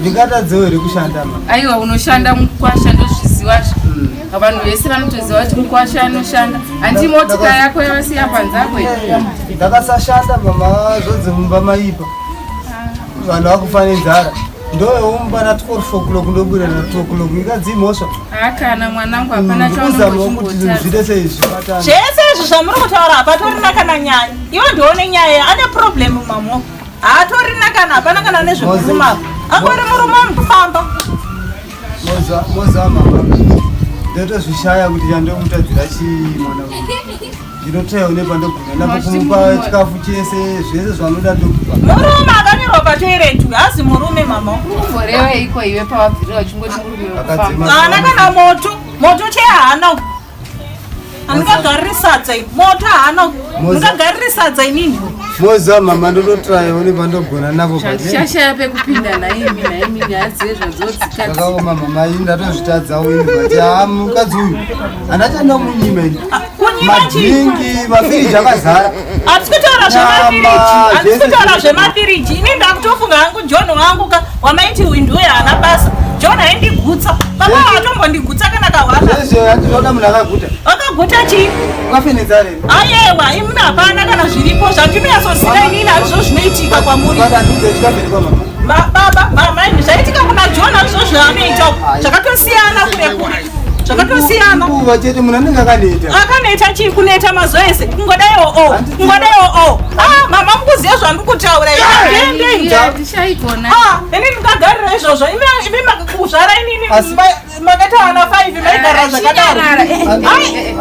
ndingatadzewo here kushanda ma aiwa unoshanda mukwasha ndozviziva zvo hmm. vanhu vese vanotoziva kuti mukwasha anoshanda handi motika yako yavasiya panzako ndakasashanda mama zvodze mumba maipa ah. vanhu vakufane nzara ndoyoumba na 12 o'clock ndobuda na 2 o'clock ikadzi mhosva hakana mwanangu hapana hmm, chaunozvite seizvi zvese izvi zvamuri kutaura hapatorina kana nyaya iwo ndione nyaya ane problem mamoko haatorina kana hapana kana nezvekuvuma angori murume wamufamba mozama ndotozvishaya kuti chandomutadzira chii mwana ndinotoya une pandogona napokumupa chikafu chese zvese zvanoda ndokupa murume akanyorwa patoirentu hazi murume mama ukumborewa iko iwe pawabvira uchingoti murume akadzimana kana moto moto chee haana Ndingagarire sadza iri. Moto haana. Ndingagarire sadza inini. Moza mama ndototraya one pandogona navo kati. Shashaya pekupinda naimi naimi nyaya dzezvadzodzikati. Ndakaoma mama ini ndatozvitadza uyu kati haa mukadzi uyu. Anachanda munyima ini. Madhingi mafiriji akazara. Hatisi kutaura zvemafiriji, hatisi kutaura zvemafiriji. Ini ndakutofunga hangu John wangu ka wamaiti uyu ndiwe haana basa. John aindigutsa. Papa watombondigutsa kana kahwaka. Zvezvo yatinoda munhu akaguta. Akaguta chii? Wakafinidza rei? Ayewa, imuna hapana kana zviripo zvatinyasoziva inini hazvo zvinoitika kwamuri. Baba ndinze chikamberi kwa mama. Baba, mama, zvaitika kuna John hazvo zvaanoita. Zvakatosiyana kure kure. zvakatosiyana nguva chete munhu anenge akaneta akaneta chii kuneta mazuva ese kungodaiwo o oh, kungodaiwo o oh, oh. ah, mama mukuziva zvandiri kutaura ini ah, ndingagarira izvozvo imi makakuzvara inini makaita vana five maigara ah, zvakadaro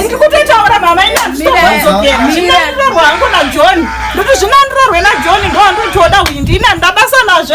ndiri kutotaura mama ini anditoazogezvinandirorwa hangu najohn ndoti zvinandirorwe najohn ndoanditoda uyu ndina ndabasa nazvo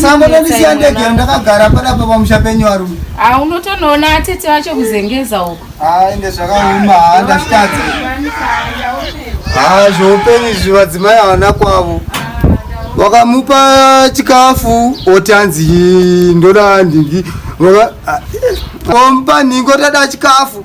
sangonondisiya ndege ndakagara padapa pamusha penyu varume ah, unotonoona atete vacho kuzengeza uko ah, ende zvakauma ah, ndazvitadza ha zvoupenyu izvi vadzimai havana kwavo wakamupa chikafu oti anzi ndoda ndingi omupa nhingo tada chikafu